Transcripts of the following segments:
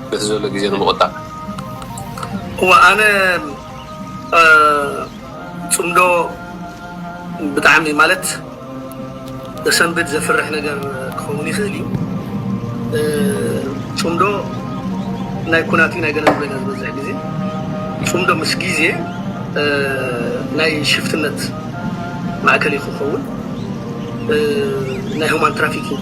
በቲ ዘሎ ግዜ ንምቑጣብ። እወ ኣነ ፅምዶ ብጣዕሚ ማለት ዘሰንብድ ዘፍርሕ ነገር ክኸውን ይኽእል እዩ። ፅምዶ ናይ ኩናት እዩ ናይ ገለ ዝበለ ዝበዝሕ ግዜ ፅምዶ ምስ ግዜ ናይ ሽፍትነት ማእከል እዩ ክኸውን ናይ ሁማን ትራፊኪንግ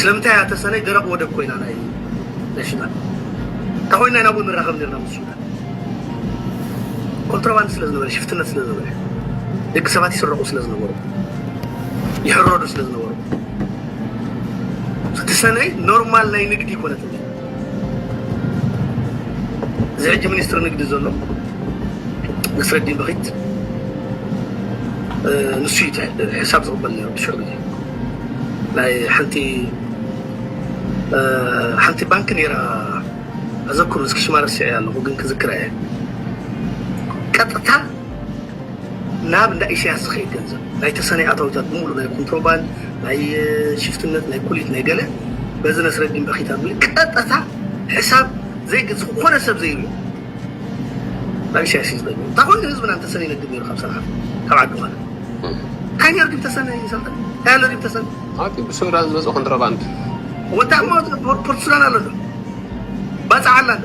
ስለምንታይ እያ ተሰነይ ደረቕ ወደብ ኮይና ናይ ናይ ሱዳን እንተ ኮይና ኢና እውን ንራኸብ ነርና ምስ ሱዳን ኮንትሮባንድ ስለ ዝነበረ ሽፍትነት ስለ ዝነበረ ደቂ ሰባት ይስረቑ ስለ ዝነበሩ ይሕረዱ ስለ ዝነበሩ እቲ ሰነይ ኖርማል ናይ ንግዲ ይኮነት እዚ ሕጂ ሚኒስትሪ ንግዲ ዘሎ ነስረዲን በኺት ንሱ እዩ ሕሳብ ዝቕበል ነይሩ ድሕሪ ግዜ ናይ ሓንቲ ሓንቲ ባንኪ ነይራ ኣዘክሩ እስኪ ሽማ ረሲዐያ ኣለኹ ግን ክዝክራ እየ ቀጥታ ናብ እንዳ ኢሰያስ ዝኸይድ ገንዘብ ናይ ተሰነይ ኣታዊታት ብምሉእ ናይ ኩንትሮባንድ ናይ ሽፍትነት ናይ ኩሊት ናይ ገለ በዚ ነስረዲን በኺታ ብምል ቀጠታ ሕሳብ ዘይግልጽ ዝኾነ ሰብ ዘይሪኦ ናብ ኢሰያስ እዩ ዝገድም እንታ ኮይኑ ህዝብና እንተሰነ ይነግድ ነይሩ ካብ ሰንዓ ካብ ዓዲ ማለት እንታይ ነይሩ ድም ተሰነ ይሰልጠን እንታይ ኣሎ ድም ተሰነ ኣቲ ብሱዳን ዝመጽእ ኮንትሮባንድ ወታማት ፖርት ሱዳን ኣሎ ባጽዓ ኣላ ኣሎ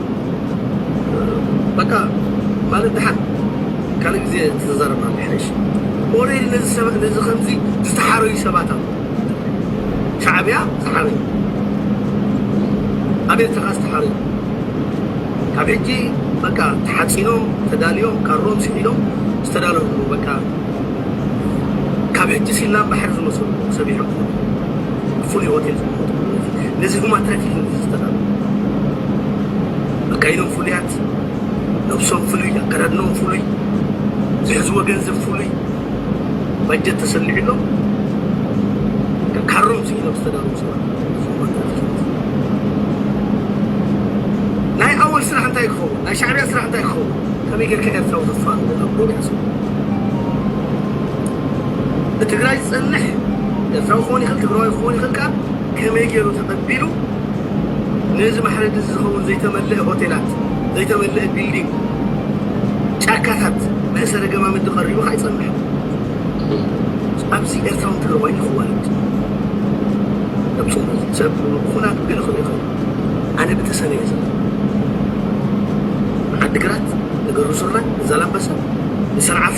በቃ ማለት ደሓን ካልእ ግዜ ክትዛረብ ይሓይሽ። ኦልሬዲ ነዚ ሰባት ነዚ ከምዚ ዝተሓረዩ ሰባት ኣለዉ ሻዕብያ ዝሓረዩ ኣብ ኤርትራ ዝተሓረዩ ካብ ሕጂ በቃ ተሓጺኖም ተዳልዮም ካሮም ስሒሎም ዝተዳለዉ በቃ ካብ ሕጂ ሲላም ባሕሪ ዝመስሉ ሰቢሖም ፍሉይ ሆቴል ዝመረፅኩ ነዚ ሁማን ትራፊኪንግ እዚ ዝተላበ ኣካይዶም ፍሉያት ነብሶም ፍሉይ ኣከዳድኖም ፍሉይ ዝሕዝዎ ገንዘብ ፍሉይ ባጀት ተሰሊዕሎም ካሮም ስኢኖም ዝተዳለዉ ሰባት ናይ ኣወል ስራሕ እንታይ ክኸውን ናይ ሻዕብያ ስራሕ እንታይ ክኸውን ከመይ ጌርካ ኤርትራዊ ተፋንዎ ናብ ሎግ ሓስቡ ብትግራይ ዝጸንሕ ኤርትራዊ ክኸውን ይኽእል ትግራዋይ ክኸውን ይኽእል ከኣ ከመይ ገይሩ ተቐቢሉ ነዚ ማሕረዲ እዚ ዝኸውን ዘይተመልአ ሆቴላት ዘይተመልአ ቢልዲንግ ጫካታት መእሰሪ ገማምዲ ቀሪቡ ከኣ ይጸንሕ ኣብዚ ኤርትራውን ትግራዋይን ይኽዋለድ ኣብ ጽምዶ ሰብ ኩናት ገለ ክብል ይኽእል ኣነ ብተሰነ እየ ዘለ ዓዲግራት ንገሩ ሱራ ንዛላምበሳ ንሰንዓፈ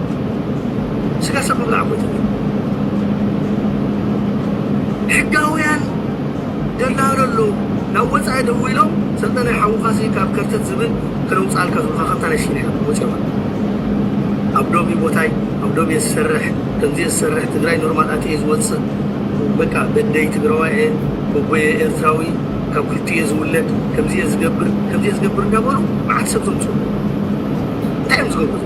ስጋ ሰብ ምብላዕ እኮ ይትብል ሕጋውያን ደላሎ ኣለዉ ናብ ወጻኢ ደዊሎም ሰልጠነ ሓውኻሲ ካብ ከርተት ዝብል ክነውጽኣልካ ዝብሉኻ ከምታ ናይ ሲንያ ወጺኦም ኣለዉ ኣብ ዶብ ቦታይ ኣብ ዶብ እየ ዝሰርሕ ከምዚ እየ ዝሰርሕ ትግራይ ኖርማል ኣትየ ዝወፅእ በቃ በደይ ትግራዋይ እየ ጎጎየ ኤርትራዊ ካብ ክልቲ እየ ዝውለድ ከምዚ እየ ዝገብር ከምዚ እየ ዝገብር እንዳበሉ መዓት ሰብ ዘምፅኡ እንታይ እዮም ዝገብሩ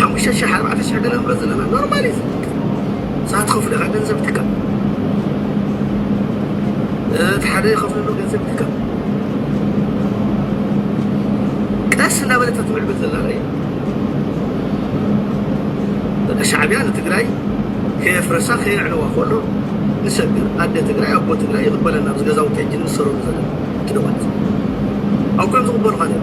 ሓሙሽተ ሽሕ ኣርባዕተ ሽሕ ንነብሮ ዘለና ኖርማል እዩ እዛ ትኸፍሎ ኢኻ ገንዘብ ትካ እቲ ሓደ ይኸፍለሉ ገንዘብ ትካ ቀስ እናበለት ትምዕብል ዘላ ራእያ በቃ ሻዕቢያ ንትግራይ ከየፍረሳ ከየዕነዋ ከሎ ንሰብ ግን ኣደ ትግራይ ኣቦ ትግራይ ይቕበለና ኣብዚ ገዛውቲ ሕጂ ንሰረሉ ዘለና ትደወት ኣብ ኮይም ዝቕበሉኻ ነይሩ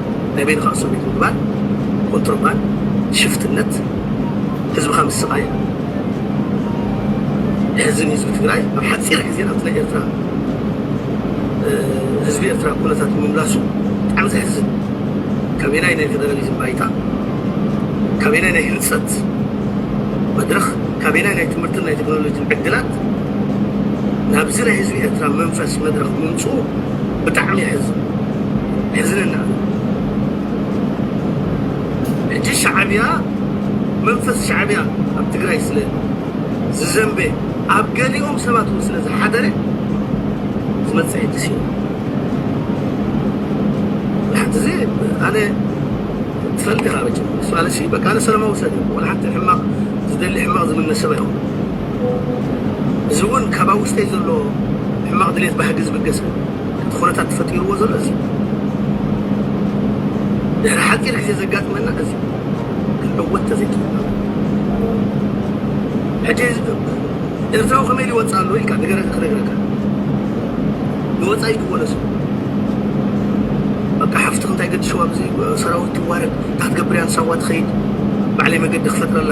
ናይ በይንኻ እሱር ቤት ምግባር፣ ኮንትሮባን፣ ሽፍትነት፣ ህዝብኻ ምስቓይ፣ ሕዚ ንህዝቢ ትግራይ ኣብ ሓፂር ግዜ ናብቲ ናይ ኤርትራ ህዝቢ ኤርትራ ኩነታት ምምላሱ ብጣዕሚ ዘሕዝን ካበየናይ ናይ ፌደራሊዝም ባይታ ካበየናይ ናይ ህንፀት መድረኽ ካበየናይ ናይ ትምህርትን ናይ ቴክኖሎጂን ዕድላት ናብዚ ናይ ህዝቢ ኤርትራ መንፈስ መድረኽ ምምፅኡ ብጣዕሚ የሕዝን የሕዝነና ሕጂ ሻዕብያ መንፈስ ሻዕብያ ኣብ ትግራይ ስለ ዝዘንበ ኣብ ገሊኦም ሰባት እውን ስለ ዝሓደረ ዝመጽእ ሕጂ ስዩ ብሓንቲ እዚ ኣነ ትፈልጥ ኢኻ መቸም እሱ ኣነሲ በቃ ኣነ ሰለማዊ ሰብ እየ ዋላ ሓንቲ ሕማቕ ዝደሊ ሕማቕ ዝምነ ሰብ ኣይኮንኩን እዚ እውን ካብ ኣብ ውሽጠይ ዘሎ ሕማቕ ድሌት ባህጊ ዝብገስ እቲ ኩነታት ፈጢርዎ ዘሎ እዚ እዩ። ድሕሪ ሓፂር ግዜ ዘጋጥመና እዚ እዩ። ክንዕወት ተዘይኪኢልና ሕጂ ኤርትራዊ ከመይ ኢሉ ይወፅእ ኣሎ ኢልካ ንገረኒ ክነግረካ ንወፃኢ ክወለሱ በቃ ሓፍትኽ እንታይ ገድሽዋ ኣብዚ ሰራዊት ትዋረድ እንታይ ክትገብር እያ ንሳዋ ትኸይድ ባዕለይ መገዲ ክፈጥረላ